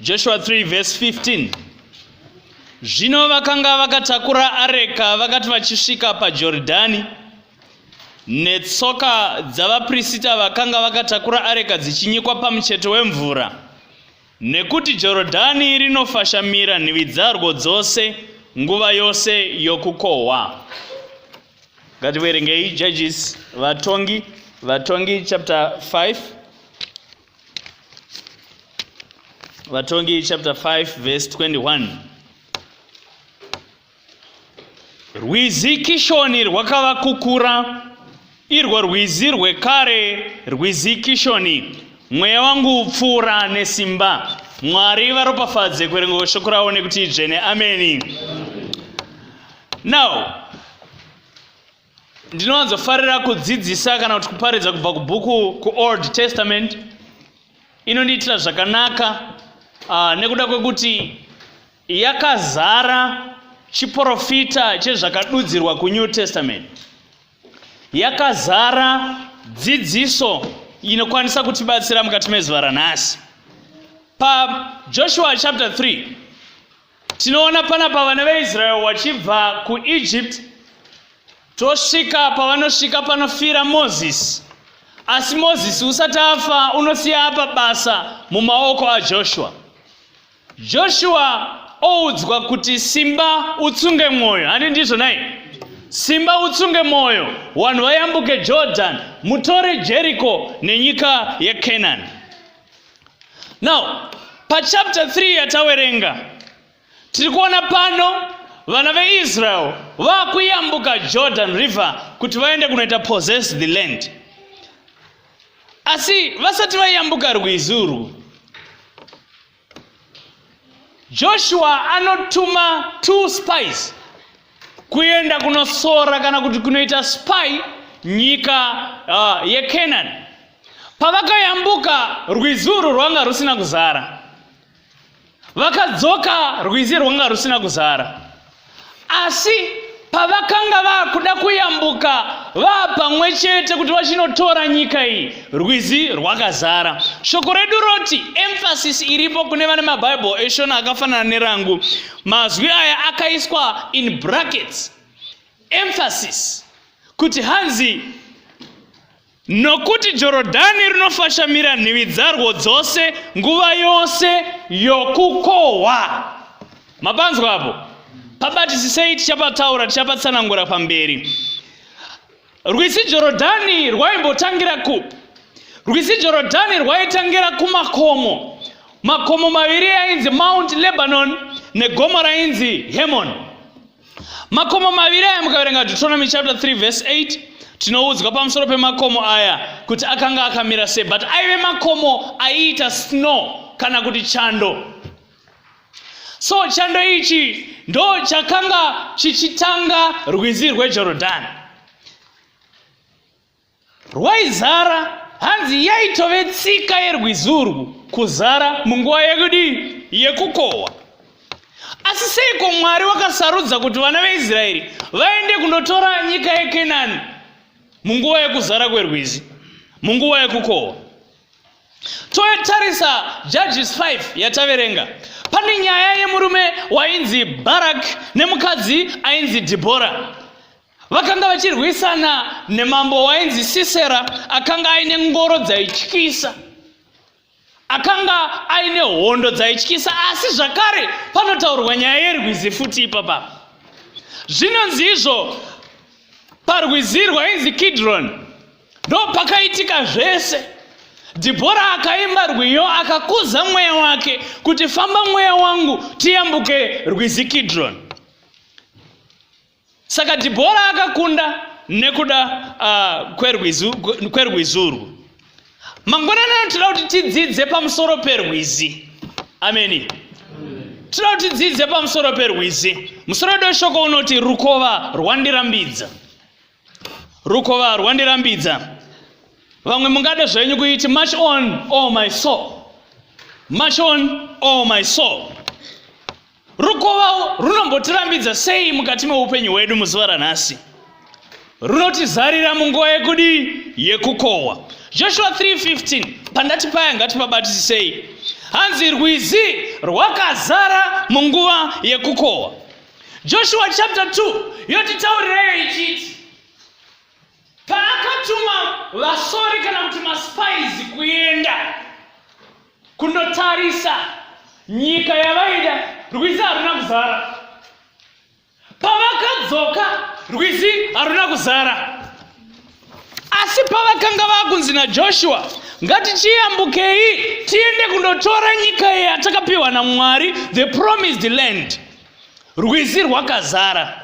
Joshua 3 verse 15 Zvino vakanga vakatakura areka vakati vachisvika paJorodhani netsoka dzavaprisita vakanga vakatakura areka dzichinyikwa pamucheto wemvura nekuti Jorodhani rinofashamira nhivi dzarwo dzose nguva yose yokukohwa ngativerengei judges vatongi vatongi chapter 5 vatongi chapter 5 verse 21 rwizi kishoni rwakava kukura irwo rwizi rwekare rwizi kishoni mweya wangu upfuura nesimba mwari varopafadze kuerengo shoko ravo nekuti dzvene ameni, ameni. now ndinowanzofarira kudzidzisa kana kuti kuparidza kubva kubhuku kuold testament inondiitira zvakanaka uh, nekuda kwekuti yakazara chiprofita chezvakadudzirwa kunew testament yakazara dzidziso inokwanisa kutibatsira mukati mezuva ranhasi pajoshua chapter 3 Tinoona panapa vana veIsrael vachibva kuEgypt tosvika pavanosvika panofira Moses. Asi Moses usati afa unosiya apa basa mumaoko aJoshua. Joshua oudzwa kuti simba utsunge mwoyo, handi ndizvo nai? Simba utsunge mwoyo, vanhu vayambuke Jordan, mutore Jericho nenyika yeCanaan. now pachapter 3 yatawerenga tiri kuona pano vana veisrael vakuyambuka jordan river kuti vaende kunoita possess the land asi vasati vaiyambuka rwizi urwu joshua anotuma two spies kuenda kunosora kana kuti kunoita spy nyika uh, yecanani Pavakayambuka rwizi urwu rwanga rusina kuzara, vakadzoka rwizi rwanga rusina kuzara, asi pavakanga vakuda kuyambuka vaa pamwe chete kuti vachinotora nyika iyi rwizi rwakazara shoko redu roti emphasis iripo kune vane mabhaibheri eshona akafanana nerangu mazwi aya akaiswa in brackets emphasis kuti hanzi Nokuti Jorodhani rinofashamira nhivi dzarwo dzose nguva yose yokukohwa. Mapanzwa apo? Pabatisisei tichapataura tichapatsanangura pamberi. Rwizi Jorodhani rwaimbotangira kupi? Rwizi Jorodhani rwaitangira kumakomo. Makomo maviri ainzi Mount Lebanon negomo rainzi Hermon. makomo maviri aya mukaverenga deuteronomy chapter 3 verse 8 tinoudzwa pamusoro pemakomo aya kuti akanga akamira sei but aive makomo aiita snow kana kuti chando so chando ichi ndo chakanga chichitanga rwizi rwejorodhani rwaizara hanzi yaitove tsika yerwizi urwu kuzara munguva yekudii yekukohwa asi seiko mwari wakasarudza kuti vana veisraeri vaende kunotora nyika yekenani munguva yekuzara kwerwizi munguva yekukohwa totarisa judges 5 yataverenga pane nyaya yemurume wainzi barak nemukadzi ainzi dhibhora vakanga vachirwisana nemambo wainzi sisera akanga aine ngoro dzaityisa akanga aine hondo dzaityisa asi zvakare panotaurwa nyaya yerwizi futi ipapa zvinonzi izvo parwizi rwainzi kidron ndo pakaitika zvese dhibhora akaimba rwiyo akakuza mweya wake kuti famba mweya wangu tiyambuke rwizi kidron saka dhibhora akakunda nekuda uh, kwerwizi urwu mangwanani ano tinoda kuti tidzidze pamusoro perwizi ameni tinoda kuti tidzidze pamusoro perwizi musoro wedu weshoko unoti rukova rwandirambidza rukova rwandirambidza vamwe mungade zvenyu kuiti much on all oh my soul much on all oh my soul Rukova runombotirambidza sei mukati meupenyu hwedu muzuva ranhasi? Runotizarira munguva yekudii? Yekukohwa. Joshua 3:15 pandati paya ngatipabatisisei. Hanzi rwizi rwakazara munguva yekukohwa. Joshua chapter 2 yotitaurirayo ichiti paakatuma vasori kana kuti maspaizi kuenda kunotarisa nyika yavaida rwizi haruna kuzara pavakadzoka rwizi haruna kuzara asi pavakanga vakunzi najoshua ngatichiyambukei tiende kundotora nyika iyi yatakapiwa namwari the promised land rwizi rwakazara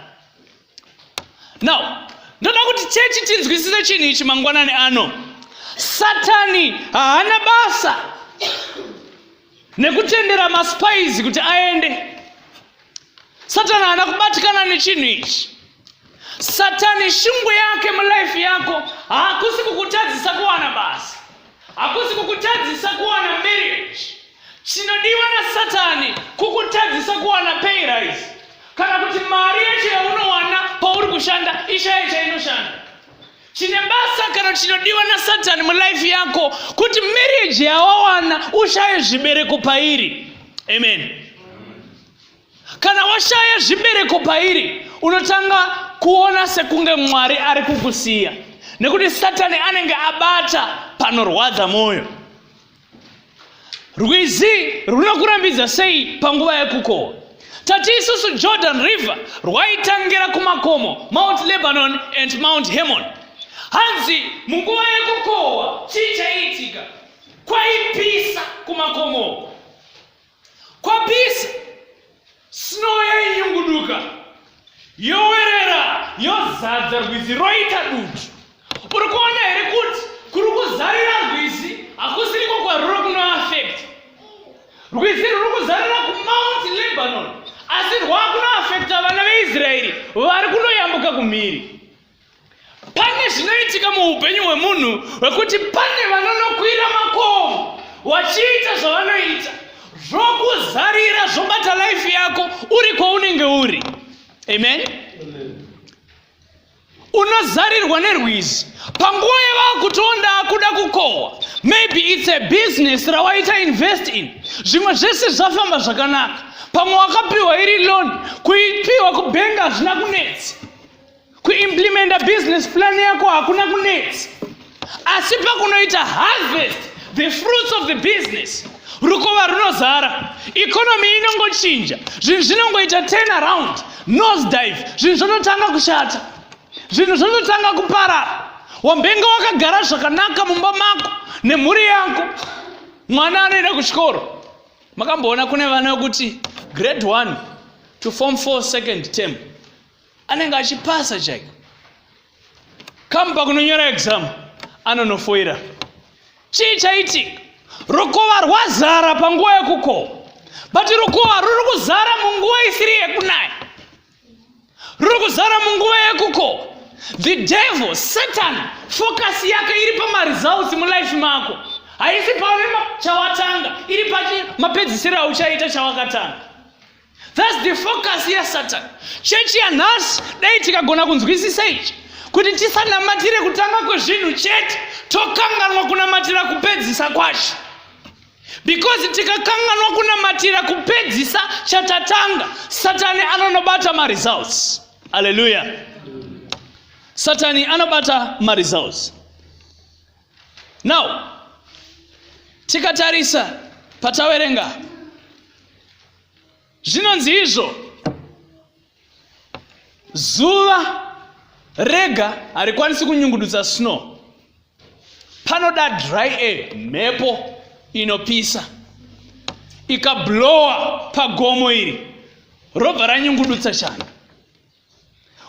now ndoda kuti chechi tinzwisise chinhu ichi mangwanani ano satani haana basa nekutendera maspaizi kuti aende satani haana kubatikana nechinhu ichi satani shungu yake mulife yako haakusi kukutadzisa kuwana basa Hakusi kukutadzisa kuwana marriage. Chinodiwa naSatani kukutadzisa kuwana pay rise kana kuti mari yacho yaunowana pauri kushanda ishaye chainoshanda. Chine basa kana chinodiwa naSatani mulife yako kuti marriage yawawana ushaye zvibereko pairi. Amen. Kana washaya zvibereko pairi, unotanga kuona sekunge Mwari ari kukusiya nekuti Satani anenge abata panorwadza mwoyo. Rwizi runokurambidza sei panguva yekukohwa? Tati isusu Jordan River rwaitangira kumakomo Mount Lebanon and Mount Hermon. Hanzi munguva yekukohwa chii chaiitika? Kwaipisa kumakomo. kwapisa snow yainyunguduka yowerera yozadza rwizi roita dutu uri kuona here kuti kuri kuzarira rwizi hakusiriko kwaruri kunoafect rwizi ruri kuzarira kumount lebanon asi rwakunoafecta vana veisraeri vari kunoyambuka kumhiri pane zvinoitika muupenyu hwemunhu hwekuti pane vanonokwira makomo vachiita zvavanoita zvokuzarira zvobata laifi yako uri kwaunenge uri amen unozarirwa nerwizi panguva yavakutonda akuda kukohwa maybe its a business rawaita invest in zvimwe zvese zvafamba zvakanaka pamwe wakapiwa iri loan kuipiwa kubenga hazvina kunetsa kuimplimenta business plan yako hakuna kunetsi asi pakunoita harvest the fruits of the business rukova runozara economy inongochinja zvinhu zvinongoita turn around nose dive zvinhu zvototanga kushata zvinhu zvototanga kuparara wambenge wakagara zvakanaka mumba mako nemhuri yako mwana anoenda kuchikoro makamboona kune vana vekuti grade one to form four second term anenge achipasa chaiko come pakunonyora exam anonofoira chii chaitika rukova rwazara panguva yekukoma but rukova ruri kuzara munguva isiri yekunaya ruri kuzara munguva yekukoma the devil satan focus yake iri pamaresults mulife mako haisi pauri chawatanga iri pamapedzisiro auchaita chawakatanga That's the focus ya Satan. Chechi yanhasi dai tikagona kunzwisisa ichi kuti tisanamatire kutanga kwezvinhu chete tokanganwa kunamatira kupedzisa kwacho because tikakanganwa kunamatira kupedzisa chatatanga satani anonobata maresults aleluya satani anobata maresults now tikatarisa pataverenga zvinonzi izvo zuva rega harikwanisi kunyungudutsa snow panoda dry air mhepo inopisa ikablowa pagomo iri robva ranyungudutsa chando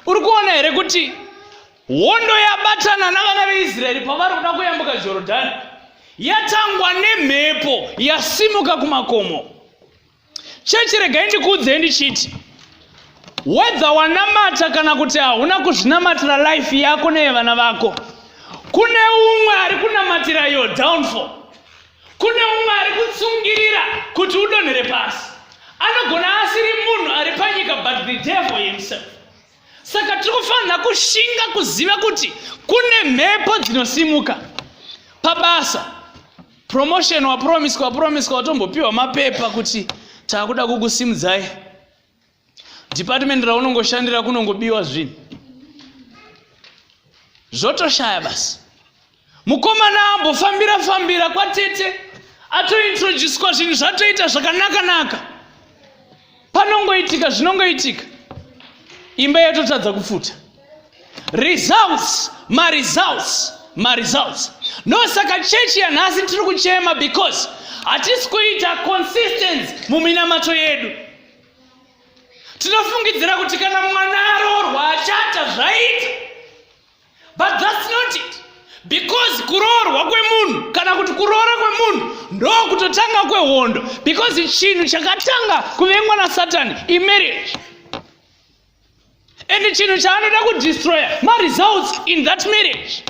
uri kuona here kuti hondo yabatana navana veisraeri pavari kuda kuyambuka jorodhani yatangwa nemhepo yasimuka kumakomo chechi regai ndikuudzei ndichiti wedza wanamata kana kuti hauna kuzvinamatira life yako neyevana vako kune umwe ari kunamatira yo downfall kune umwe ari kutsungirira kuti udonhere pasi anogona asiri munhu ari panyika but the devil himself saka tiri kufanira kushinga kuziva kuti kune mhepo dzinosimuka pabasa promotion wapromiswa wapromiswa watombopiwa mapepa kuti taakuda kukusimudzai department raunongoshandira kunongobiwa zvinhu zvotoshaya basi mukomana ambofambira fambira kwatete atointroducwa zvinhu zvatoita zvakanaka naka panongoitika zvinongoitika imba yatotadza kupfuta results maresults maresults no saka chechi yanhasi tiri kuchema because hatisi kuita consistence muminamato yedu tinofungidzira kuti kana mwana aroorwa achata zvaita but thats not it because kuroorwa kwemunhu kana kuti kuroora kwemunhu ndokutotanga kwehondo because chinhu chakatanga kuvengwa nasatani imarriage and chinhu chaanoda kudestroya maresults in that marriage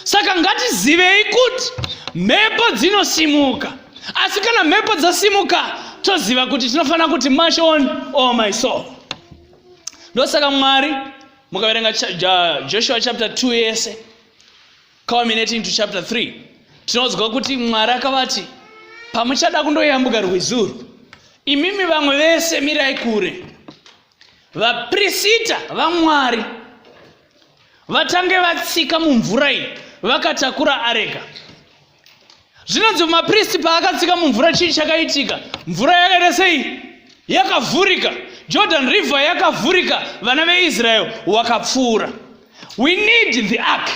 saka ngatizivei kuti mhepo dzinosimuka asi kana mhepo dzasimuka toziva kuti tinofanira kuti mash on all oh my soul ndosaka mwari mukaverenga joshua chapter 2 yese culminating to chapter 3 tinonzwa kuti mwari akavati pamuchada kundoyambuka rwizi urwu imimi vamwe vese mirai kure vaprisita vamwari vatange vatsika mumvura iyi vakatakura areka zvinonzi mapristi paakatsika mumvura chii chakaitika mvura yakaita sei yakavhurika jordan river yakavhurika vana veisrael wakapfuura we need the ark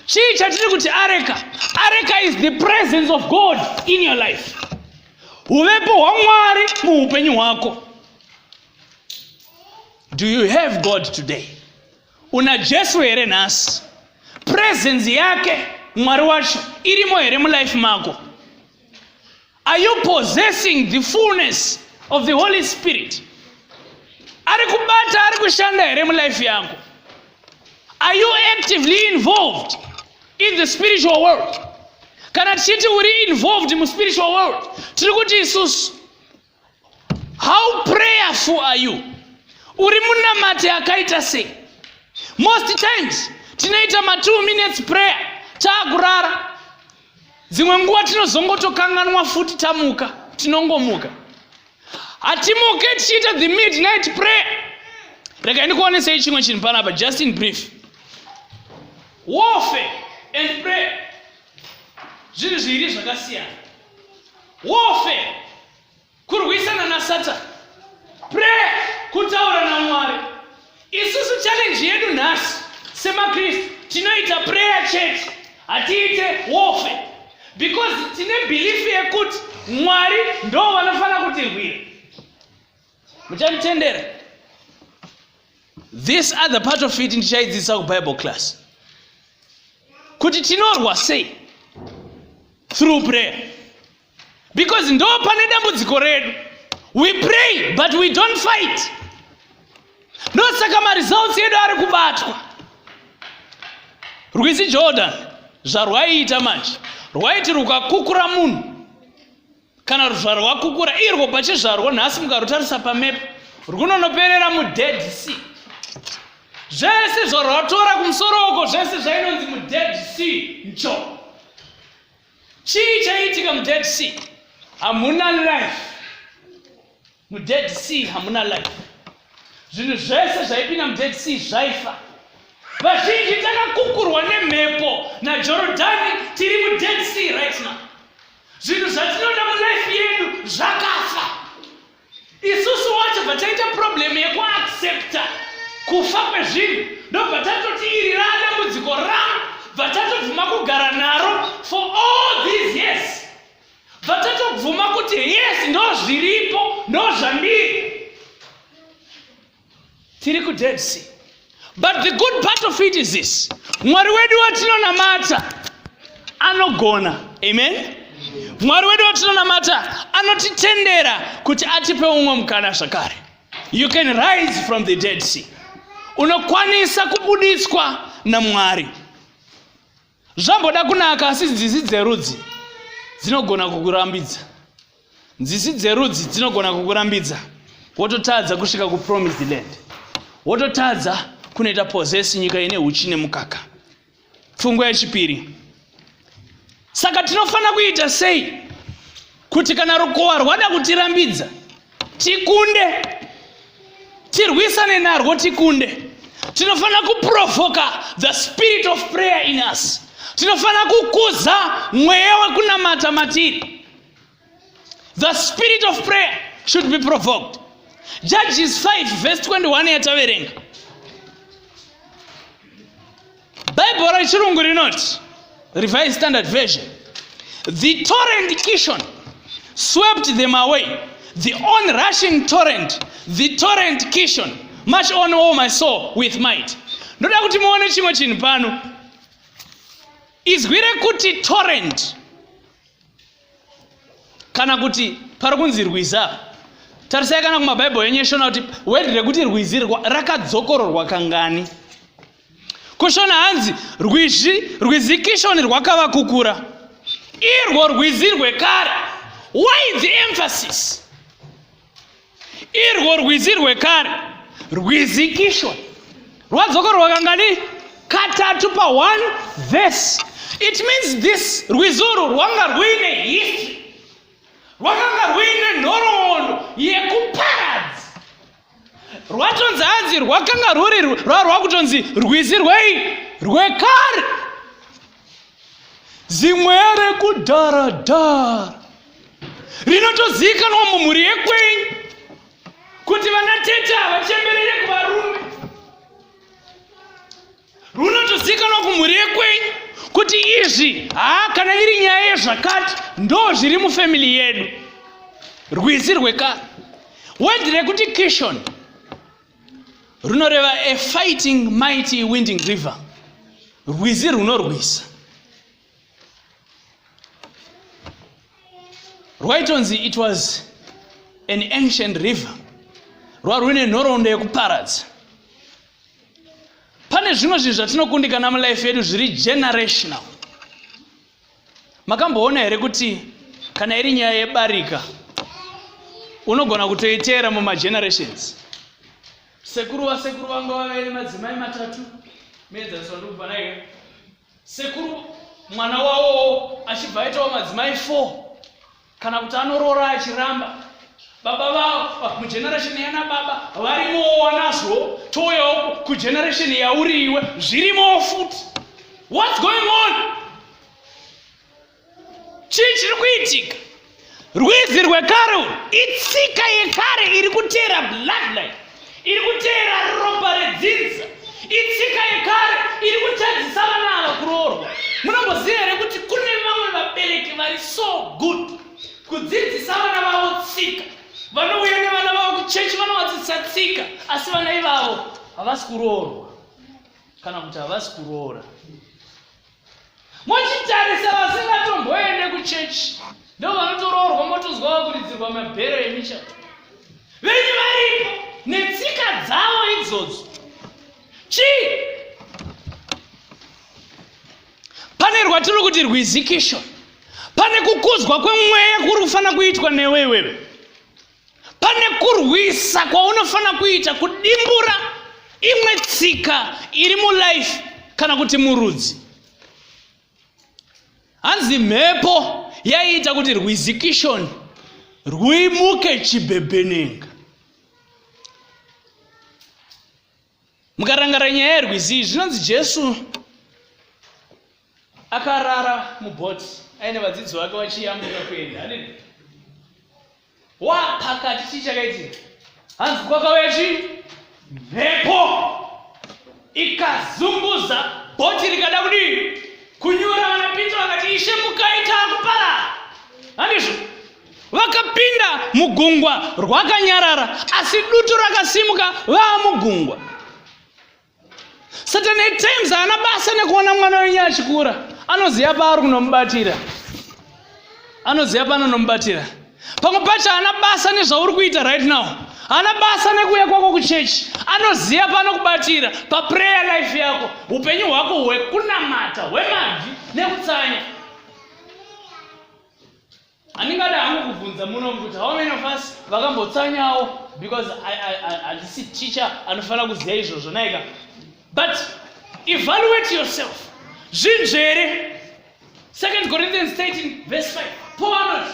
chii chatiri kuti areka areka is the presence of god in your life uvepo hwamwari muupenyu hwako do you have god today Una Jesu here nhasi? Presence yake Mwari wacho irimo here mulife mako? Are you possessing the fullness of the Holy Spirit? Ari kubata ari kushanda here mulife yako? Are you actively involved in the spiritual world? Kana tichiti uri involved mu spiritual world, tiri kuti isusu how prayerful are you uri munamati akaita sei most times tinoita ma two minutes prayer taakurara dzimwe nguva tinozongotokanganwa futi tamuka tinongomuka hatimuke tichiita the midnight prayer rega ndikuonesei chimwe chinhu panapa just in brief warfare and prayer zvinhu zviiri zvakasiyana warfare kurwisana nasatani prayer kutaura namwari isusu challenge yedu nhasi semakristu tinoita prayer church hatiite warfare because tine belief yekuti mwari ndo vanofanira kutirwira muchanditendera this other part of it ndichaidzidzisa kubible class kuti tinorwa sei through prayer because ndo pane dambudziko redu we pray but we don't fight ndosaka maresults edu ari kubatwa rwizi jordan zvarwaiita manje rwaiti rukakukura munhu kana ruzvaro rwakukura irwo pachizvarwo nhasi mukarutarisa pamepo rwunonoperera mudead sea zvese zvarwatora kumusoro uko zvese zvainonzi mudead sea ncho chii chaiitika mudead sea hamuna life mudead sea hamuna life zvinhu zvese zvaipinda mudead sea zvaifa vazhinji takakukurwa nemhepo najorodhani tiri mudead sea right now zvinhu zvatinoda mulife yedu zvakafa isusu wacho vataita problem yekuaccepta kufa kwezvinhu ndobva tatoti iri radambudziko rangu bva tatobvuma kugara naro for all these years vatatobvuma kuti yes ndozviripo ndozvandiri tiri kudead sea but the good part of it is this mwari wedu watinonamata anogona amen mwari wedu watinonamata anotitendera kuti atipe umwe mukana zvakare you can rise from the dead sea unokwanisa kubuditswa namwari zvamboda kunaka asi nzizi dzerudzi dzinogona kukurambidza nzizi dzerudzi dzinogona kukurambidza wototadza kusvika kupromised land wototadza kunoita possess nyika ine uchi nemukaka pfungwa yechipiri saka tinofanira kuita sei kuti kana rukowa rwada kutirambidza tikunde tirwisane narwo tikunde tinofanira kuprovoka the spirit of prayer in us tinofanira kukuza mweya wekunamata matiri the spirit of prayer should be provoked judges 5 verse 21 yataverenga Bible rechirungu rinoti Revised Standard Version the torrent Kishon swept them away the onrushing torrent the torrent Kishon march on all my soul with might ndoda kuti muone chimwe chinhu pano izwi rekuti torrent kana kuti pari kunzi rwiza tarisai kana kumabhaibheri enyu eshona kuti wedhi rekuti rwizi rakadzokororwa kangani kushona hanzi rwizi rwizi kishoni rwakava kukura irwo rwizi rwekare why the emphasis irwo rwizi rwekare rwizi kishoni rwadzoka rwakangani katatu pa one verse it means this rwizi urwu rwanga rwuine history rwakanga rwuine nhoroondo yekuparadza rwatonzi hanzi rwakanga rwuri rwakutonzi rwizi rwei rwekare zimwe rekudharadhara rinotozivikanwa mumhuri yekwenyu kuti vana tete havachemberere kuvarume runotozikanwa kumhuri yekwei kuti izvi haa kana iri nyaya yezvakati ndo zviri mufamily yedu rwizi rwekare wedhi rekuti kishon runoreva a fighting mighty winding river rwizi runorwisa rwaitonzi it was an ancient river rwarwine nhoroondo yekuparadza pane zvimwe zvinhu zvatinokundikana mulife yedu zviri generational makamboona here kuti kana iri nyaya yebarika unogona kutoiteera mumagenerations sekuru vasekuru vanga vavere madzimai matatu meedzaniswa ndokubva naye sekuru mwana wawowo achibva aitawo madzimai four kana kuti anoroora achiramba baba vavo mugeneration yana baba varimowo wanazvo touyawo kugeneration yauri iwe zvirimowo futi whats going on chii chiri kuitika rwizi rwekare itsika yekare iri kuteera bloodline iri kuteera ropa redzidza itsika yekare iri kutadzisa vana ava kuroorwa munomboziva here kuti kune vamwe vabereki vari so good kudzidzisa vana vavo tsika vanouya nevana vavo kuchechi vanovadzidzisa tsika asi vana ivavo havasi kuroorwa kana kuti havasi kuroora mochitarisa vasingatomboende kuchechi ndo vanotoroorwa motozwa vakuridzirwa mabhero emichato venyu varipo netsika dzavo idzodzo chii pane rwatiri kuti rwizikisho pane kukuzwa kwemweya kuri kufanira kuitwa newe iwewe pane kurwisa kwaunofanira kuita kudimbura imwe tsika iri mulife kana kuti murudzi hanzi mhepo yaiita kuti rwizikishoni rwimuke chibhebhenenga mukarangara nyaya yerwizi iyi zvinonzi jesu akarara mubhoti aine vadzidzi vake vachiyambuka kuenda hanini wapakati chii chakaitika hanzi kwakauya chii mhepo ikazunguza bhoti rikada kudii kunyura vanapinza vakati ishe mukaita akupara handizvo vakapinda mugungwa rwakanyarara asi dutu rakasimuka vaa mugungwa satan at times haana basa nekuona mwana wenyu achikura anoziva paari kunomubatira anoziva paanonomubatira pamwe pacho haana basa nezvauri kuita right now haana basa nekuuya kwako kuchechi anoziva panokubatira paprayer life yako upenyu hwako hwekunamata hwemabvi nekutsanya handingada hangu kubvunza muno kuti how many of us vakambotsanyawo because handisi teacher anofanira kuziva izvozvo naika but evaluate yourself zvinzvere second corinthians 13 verse 5 paul anoti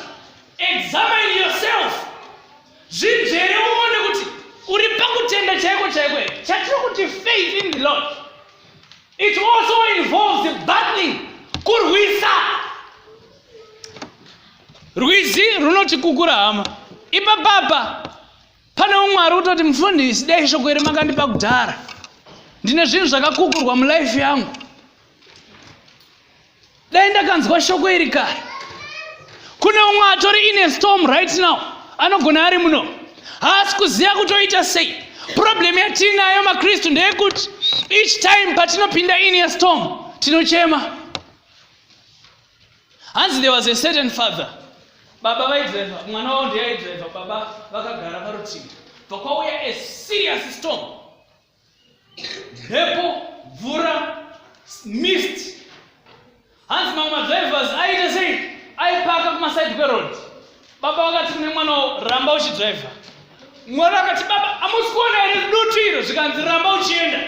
examine yourself zvinzvere uone kuti uri pakutenda chaiko chaiko here chatiri kuti faith in the lord It also involves battling, kurwisa. Rwizi runoti kukura hama. Ipa papa pane umwari utoti mufundisi dai shoko iri makandipa kudhara. Ndine zvinhu zvakakukurwa mulife yangu. dai ndakanzwa shoko iri kare kune umwe atori ine storm right now anogona ari muno haasi kuziva kutoita sei problem yatiinayo makristu ndeyekuti each time patinopinda in a storm tinochema hanzi there was a certain father baba vaidriva mwana wavo ndeyaidriva baba vakagara parutivi bva kwauya a serious storm mhepo mvura mist hanzi mamwe madrivers aite sei aipaka kumasaidi kweroad baba vakati kune mwana ramba uchidriver mwana akati baba amusi kuona here dutu iro zvikanzi ramba uchienda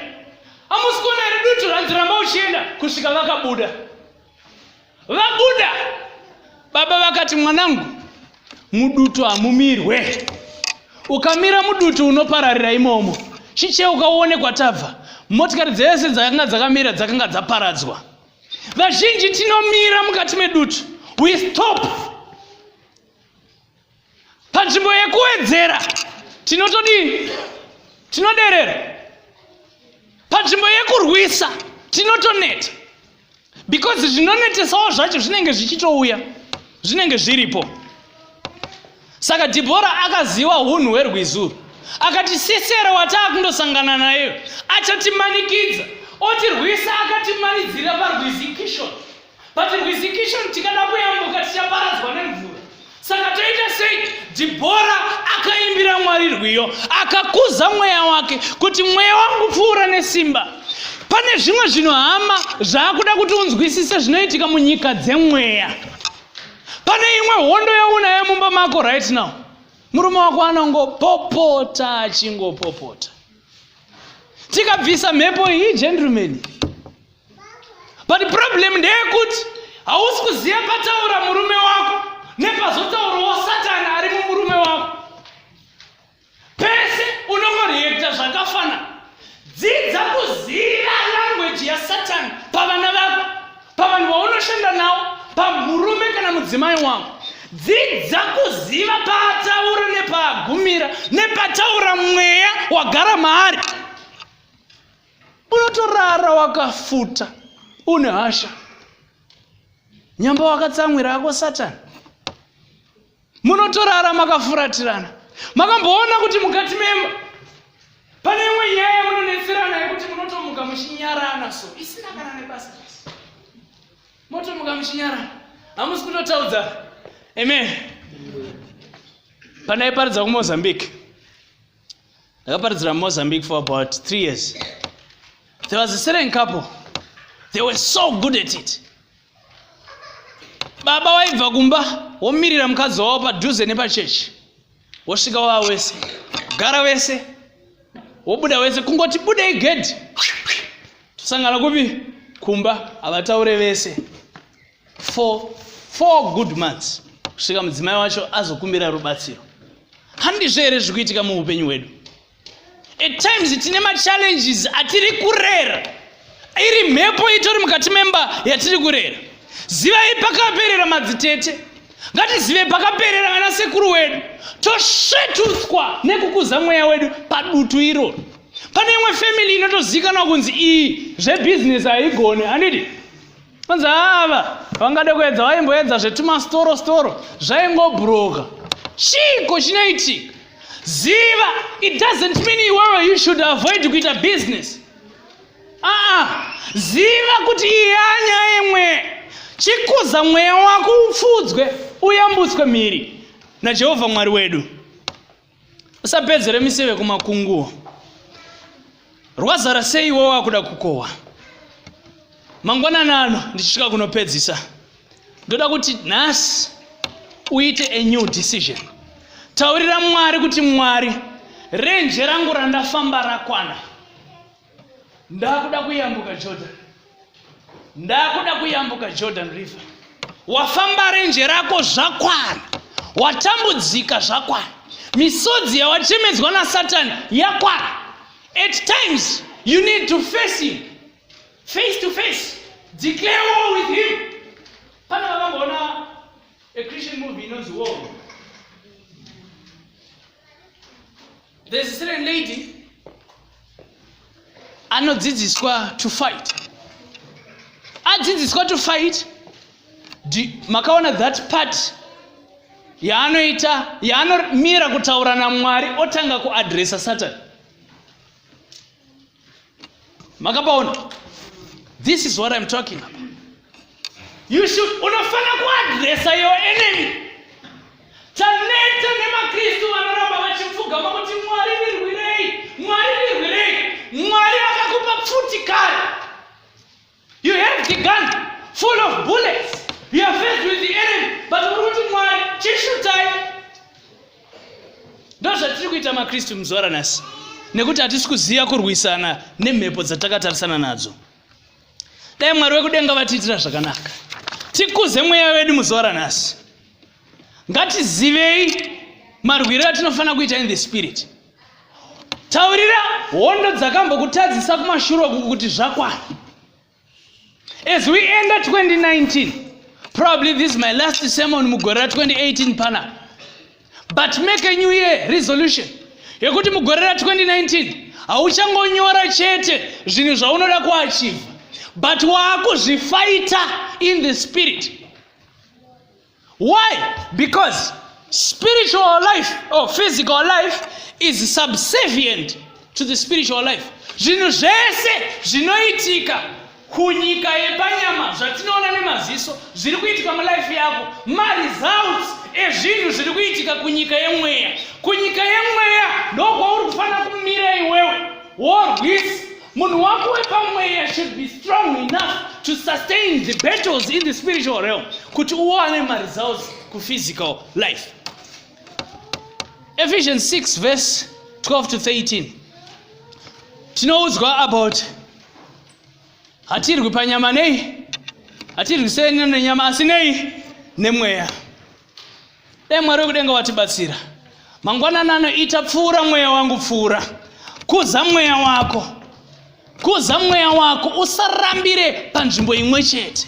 amusi kuona here dutu ranzi ramba uchienda kusvika vakabuda vabuda baba vakati mwanangu mudutu hamumirwe ukamira mudutu unopararira imomo chicheuka uone kwatabva motikari dzese dzakanga dzakamira dzakanga dzaparadzwa vazhinji tinomira mukati medutu we stop panzvimbo yekuwedzera tinotodii tinoderera panzvimbo yekurwisa tinotoneta because zvinonetesawo zvacho zvinenge zvichitouya zvinenge zviripo saka dhibhora akaziva unhu hwerwizuru akati sisera wataa kundosangana naye achatimanikidza otirwisa akatimanidzira parwizi kishoni but rwizi kishoni tikada kuyambuka tichaparadzwa nemvura saka toita sei dhibhora akaimbira mwari rwiyo akakuza mweya wake kuti mweya wangu pfuura nesimba pane zvimwe zvinhu hama zvaakuda kuti unzwisise zvinoitika munyika dzemweya pane imwe hondo yaunayo mumba mako right now murume wako anongopopota achingopopota tikabvisa mhepo iyi gentleman but problem ndeyekuti hausi kuziva pataura murume wako nepazotaurawo satani ari mumurume wako pese unongoreekta zvakafana dzidza kuziva langweji yasatani pavana vako pavanhu vaunoshanda nawo pamurume kana mudzimai wako dzidza kuziva paataura nepaagumira nepataura mweya wagara maari unotorara wakafuta une hasha nyamba wakatsamwira yako satani munotorara makafuratirana makamboona kuti mukati memba pane imwe nyaya yamunonetserana yekuti munotomuka muchinyarana so isina kana nebasa motomuka muchinyarana hamusi kutotaudza amen pandaiparidza kumozambique ndakaparidzira mozambique for about three years there was a certain couple they were so good at it baba waibva kumba womirira mukadzi wavo padhuze nepachechi wosvika wava wese gara wese wobuda wese kungoti budei gedhi tosangana kupi kumba havataure vese for four good months kusvika mudzimai wacho azokumbira rubatsiro handizvo here zviri kuitika muupenyu hwedu at times tine machallenges atiri kurera iri mhepo itori mukati memba yatiri kurera zivai pakaperera madzitete ngatizive pakaperera vana sekuru wedu tosvetutswa nekukuza mweya wedu padutu iroro pane imwe family inotozikanwa kunzi iyi zvebhizinesi haigone handiti Anzi ava vangade kuedza vaimboedza zvetumasitoro sitoro zvaingobhuroka. Chiko chinoitika. Ziva it doesn't mean iwewe you should avoid kuita business. Aa, ziva kuti iyanya imwe chikuza mweya wako upfudzwe uyambutswe mhiri naJehovha Mwari wedu. usapedzere miseve kumakunguwo rwazara sei iwo wakuda kukohwa mangwanani ano ndichisvika kunopedzisa ndoda kuti nhasi uite a new decision taurira mwari kuti mwari renje rangu randafamba rakwana ndakuda kuyambuka jordan ndakuda kuyambuka jordan river wafamba renje rako zvakwana watambudzika zvakwana misodzi yawachemedzwa nasatani yakwana at times you need to face him face to face declare war with him pana vakamboona a christian movie inonzi war There's a certain lady anodzidziswa to fight adzidziswa to fight makaona that part yaanoita yaanomira kutaura namwari otanga kuadresa satani makapaona this is what i'm talking about you should unofana kuadresa your enemy taneta nemakristu vanoramba vachipfugama kuti mwari ndirwirei mwari ndirwirei mwari akakupa pfuti kare You have the gun full of bullets. You are faced with the enemy. But uri kuti Mwari chishutai. Ndozvatiri kuita maKristu muzuva ranhasi. Nekuti hatisi kuziva kurwisana nemhepo dzatakatarisana nadzo. Dai Mwari wekudenga vatiitira zvakanaka. Tikuze mweya wedu muzuva ranhasi. Ngatizivei marwiro atinofanira kuita in the spirit. taurira hondo dzakambokutadzisa kumashure uku kuti zvakwana as we enda 2019 probably this is my last sermon mugore ra 2018 pana but make a new year resolution yekuti mugore ra 2019 hauchangonyora chete zvinhu zvaunoda kuachivha but waakuzvifaita in the spirit why because spiritual life or physical life is subservient to the spiritual life zvinhu zvese zvinoitika kunyika yepanyama zvatinoona nemaziso zviri kuitika mulife yako maresults ezvinhu zviri kuitika kunyika yemweya kunyika yemweya ndokwauri kufanira kumira iwewe worwisa munhu wako wepamweya should be strong enough to sustain the battles in the spiritual realm kuti uwane maresults kuphysical life ephesians 6 verse 12 to 13 tinoudzwa about hatirwi panyama nei hatirwi sene nenyama asi nei nemweya dai mwari wekudenga watibatsira mangwanani anoita pfuura mweya wangu pfuura kuza mweya wako kuza mweya wako usarambire panzvimbo imwe chete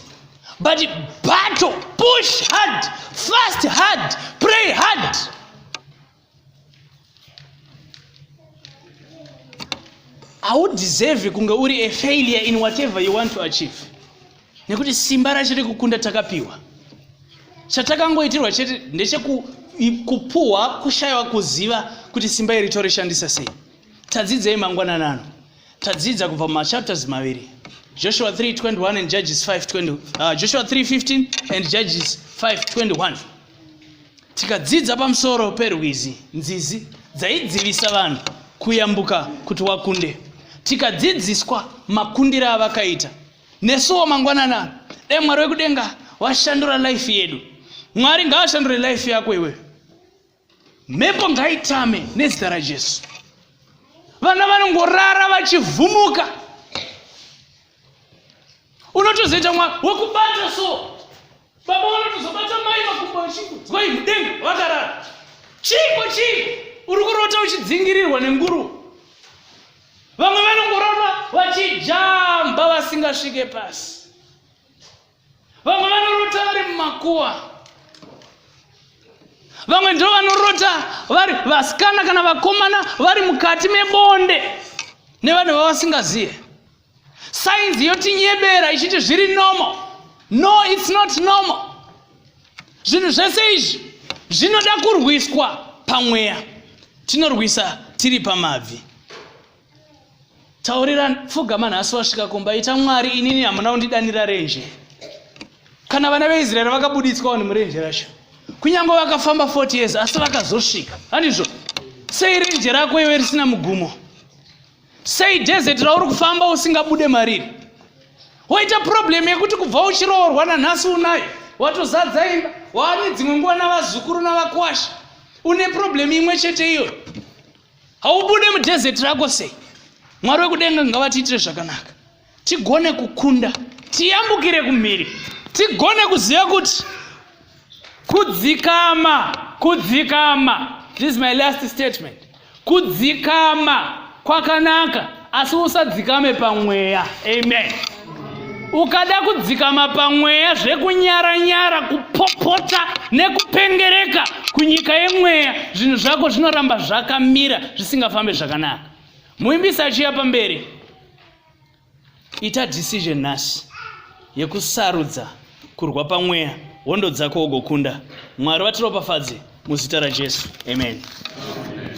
but battle push hard fast hard pray hard haudeserve kunge uri a failure in whatever you want to achieve nekuti simba racho rekukunda takapiwa chatakangoitirwa chete ndechekupuhwa kushayiwa kuziva kuti simba iri torishandisa sei tadzidzei mangwanana ano tadzidza kubva mumachapters maviri joshua 321 and judges 520 uh, joshua 315 and judges 521 tikadzidza pamusoro perwizi nzizi dzaidzivisa vanhu kuyambuka kuti wakunde tikadzidziswa makundiro avakaita nesuwo mangwanana dai mwari wekudenga washandura life yedu mwari ngaashandure life yako iwe mhepo ngaitame nezita rajesu vana vanongorara vachivhumuka unotozoita mwa wekubata so baba vanotozobata mai makumbo vachingodzwai mudenga vakarara chiiko chiiko uri kurota uchidzingirirwa nenguru vamwe vanongorota vachijamba vasingasvike pasi vamwe vanorota vari mumakuwa vamwe ndo vanorota vari vasikana kana vakomana vari mukati mebonde nevanhu vavasingazive sainzi yotinyebera ichiti zviri normal no its not normal zvinhu zvese izvi zvinoda kurwiswa pamweya tinorwisa tiri pamabvi taurira pfugama nhasi wasvika kumba ita mwari inini hamuna kundidanira renje kana vana veisraeri vakabuditswa vanhu murenje racho kunyange vakafamba 40 years asi vakazosvika handizvo sei renje rako iwe risina mugumo sei desert rauri kufamba usingabude mariri woita problem yekuti kubva uchiroorwa nanhasi unayo watozadza imba waane dzimwe nguva navazukuru navakwasha une problem imwe chete iyoyo haubude mudesert rako sei mwari wekudenga ngavatiitire zvakanaka tigone kukunda tiyambukire kumhiri tigone kuziva kuti kudzikama kudzikama this is my last statement kudzikama kwakanaka asi usadzikame pamweya amen ukada kudzikama pamweya zvekunyaranyara kupopota nekupengereka kunyika yemweya zvinhu zvako zvinoramba zvakamira zvisingafambe zvakanaka muimbisi achiya pamberi ita decision nhasi yekusarudza kurwa pamweya hondo dzako ugokunda mwari vatiropafadze muzita rajesu amen, amen.